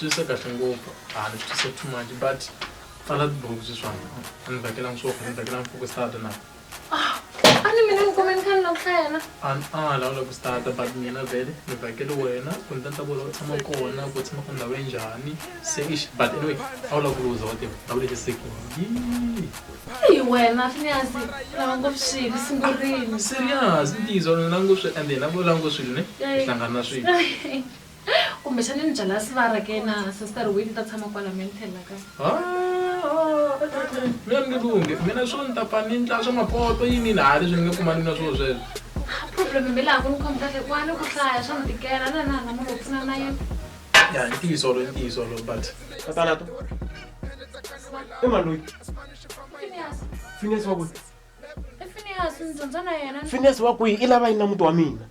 twisisa kahle ngopfu a ni twisisa too much but pfala tibuku sweswana a ni vhakelangi swo a ni vhakelangi fokisata na a ni mina ni kome ni kha ni lava ku hlaya na An- a nga lawula ku stata but mina vele ni vhakele wena ku ni ta ni ta vula u tshama kona ku tshama ka ndhawu ya njhani se ix but anyway a wu lava ku luza wa tiva ndhawu leti sekini yii hi wena finyazi u lava ngopfu swilo sungurini serious ntiyiso ni langu swi ende hi na vo langu swilo ne hi hlangana swilo Kumbe xana ni byala sivara ke na sister Win ni ta tshama kwala me ni tlhelela kaya. Mina ni nge lunghi mina swo ni ta pfa ni ndla swa mapoto yini yini hayi leswi ni nge kumani na swilo sweswo. Problem mi laha ku ni khomi kahle ku a ni ku hlaya swa ni tikela na na na munhu wo pfuna na yena. Ya i ntiyiso wolowo i ntiyiso wolowo but. Tatana to i mani loyi? Phineas. Phineas wa kwihi? I Phineas ni dyondza na yena. Phineas wa kwihi i lava yini na muti wa mina?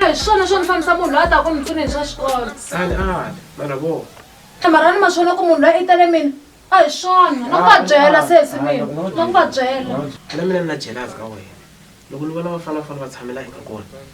hi swona swo ni fambisa munhu loyi a taka ku ni pfune hi swa xikolo sali ali mara vo marani ma swona ku munhu loyi i tele mina a hi swona na ku va byela sesi mina na ku va byela na mina ni na jelas ka wena loko ni vona vafanafana va tshamela eka kona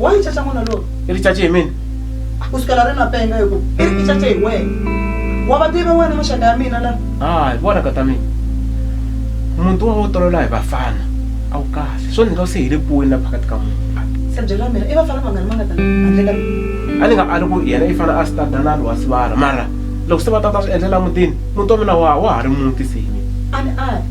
wa yi caca n'wana lowu i ri cace hi mina ku sukela ri na penga hi ku i ri i cace hi wena wa va tiva wena maxaka ya mina la hayi vona ka ta mina muti wa wo tolola hi vafana a wu kahle swo ndzi nga se hi le puweni la phakati ka munhu se byela mina i vafana vangani va nga ta handle ka mina a ni nga ali ku yena i fana a stada na lowa sivara mara loko se va tata swi endlela mutini muti wa mina wa wa ha ri muti se hi mina a ni ali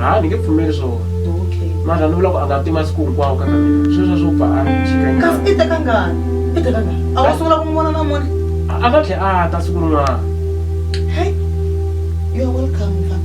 ha ni nge pfumeli swona okay mara ni vula ku a nga ti masiku hinkwawo ka ka mina sweswo swo pfa a chikanyana kasi i teka ngani i teka ngani a wa sungula ku n'wi vona namuntlha a nga tlhe a ta siku rin'wana hey you are welcome mfana